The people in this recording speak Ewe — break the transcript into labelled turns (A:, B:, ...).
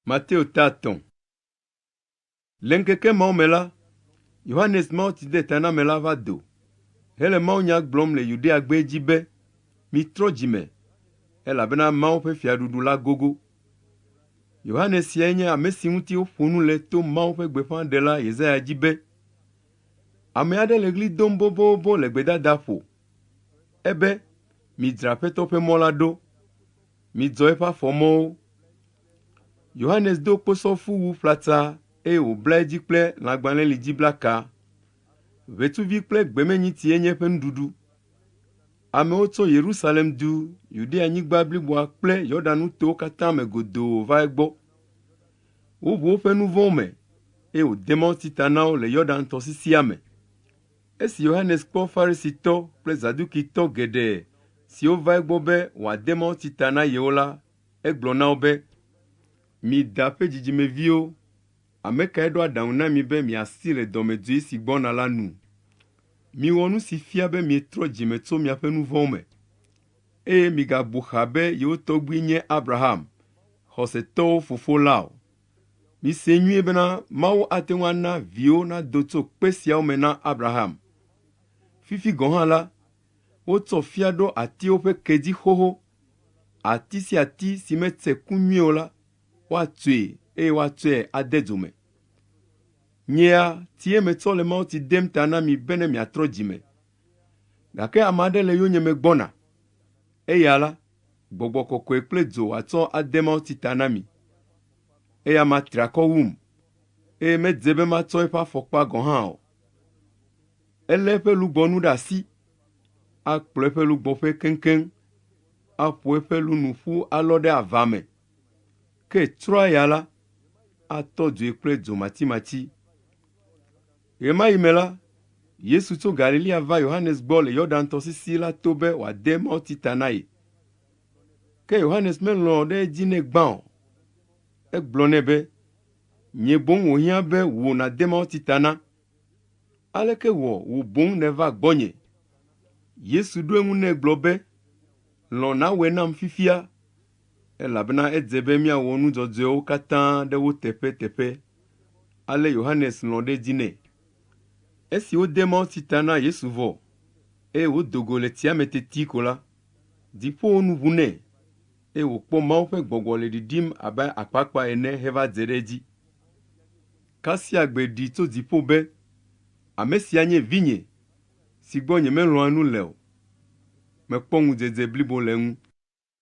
A: Mateo ta tɔ̃. Le ŋkeke mawo me la, Yohanes Mawutsidetanamela va do hele mawunya gblɔm le Yudea gbee dzi be, Mitrɔ dzi me, elabena Mawu ƒe fiaɖuɖu la gogo. Yohanes siae nye ame si ŋuti woƒo nu le to Mawu ƒe gbeƒãɖela Yesaya dzi be, Ame aɖe le ɣli dom bobobo le gbedadaƒo. Ebe, Midzra Aƒetɔ ƒe mɔ la ɖo, midzɔ eƒe afɔ mɔwo. Yohanes do kposɔfuwu ƒlata eye wòbla edzi kple lãgbalẽlidziblaka. Ʋetsuvi kple gbemenyitie nye eƒe nuɖuɖu. Amewo tso Yerusalem du, Yudea-nyigba bliboa kple Yordan-nutowo katã me godoo va egbɔ. Woʋu woƒe nu vɔ̃wo me, eye wòde mawutsi ta na wo le Yordan-tɔsisia me. Esi Yohanes kpɔ Farisitɔ kple Zadukitɔ geɖe siwo va egbɔ be wòade mawutsi ta na yewo la, egblɔ na wo be, Mi da ƒe dzidzimeviwo! Ame kae ɖo aɖaŋu na mi be miasi le dɔmedzoe si gbɔna la nu? Miwɔ nu si fia be mietrɔ dzi me tso miaƒe nu vɔ̃wo me, eye migabu xaa be yewo tɔgbui nye Abraham, xɔsetɔwo fofo la o. Misee nyuie bena Mawu ate ŋu ana viwo nado tso kpe siawo me na Abraham. Fifi gɔ̃ hã la, wotsɔ fia ɖo atiwo ƒe ke dzi xoxo. Ati sia ati si metse ku nyuie o la, woatsoe eye woatsɔe ade dzo me. Nyea, tie metsɔ le mawutsi dem ta na mi bene miatrɔ dzi me Gake ame aɖe le yonyeme gbɔna, eya la, gbɔgbɔ kɔkɔe kple dzo wòatsɔ ade mawutsi ta na mi. Eya ma tra kɔ wum, eye medze be matsɔ eƒe afɔkpa gɔ̃ hã o. Elé eƒe lugbɔnu ɖe asi, akplɔ eƒe lugbɔƒe keŋkeŋ, aƒo eƒe lunu ƒu alɔ ɖe ava me, ke tsrɔ̃a ya la, atɔ dzoe kple dzo matsimatsi. Ɣemaɣi me la, Yesu tso Galilea va Yohanes gbɔ le Yordan tɔsisi la to be wòade mawuti ta na ye. Ke Yohanes melɔ̃ ɖe edzi nɛ gbã o. Egblɔ nɛ be, Nyee boŋ wòhiã be wò nàde mawuti ta na. Aleke wɔ wò boŋ nèva gbɔnye? Yesu ɖo eŋu nɛ gblɔ be, Lɔ̃ nawɔe nam fifia elabena edze be míawɔ nu dzɔdzɔewo katã ɖe wo teƒe teƒe. Ale Yohanes lɔ̃ ɖe edzi nɛ. Esi wode mawutsi ta na Yesu vɔ, eye wòdo go le tsia me teti ko la, dziƒowo nu ʋu nɛ, eye wòkpɔ Mawu ƒe gbɔgbɔ le ɖiɖim abe akpakpa ene heva dze ɖe edzi. Kasia gbe ɖi tso dziƒo be, Ame sia nye Vinye, si gbɔ nyemelɔ̃a nu le o. Mekpɔ ŋudzedze blibo le eŋu.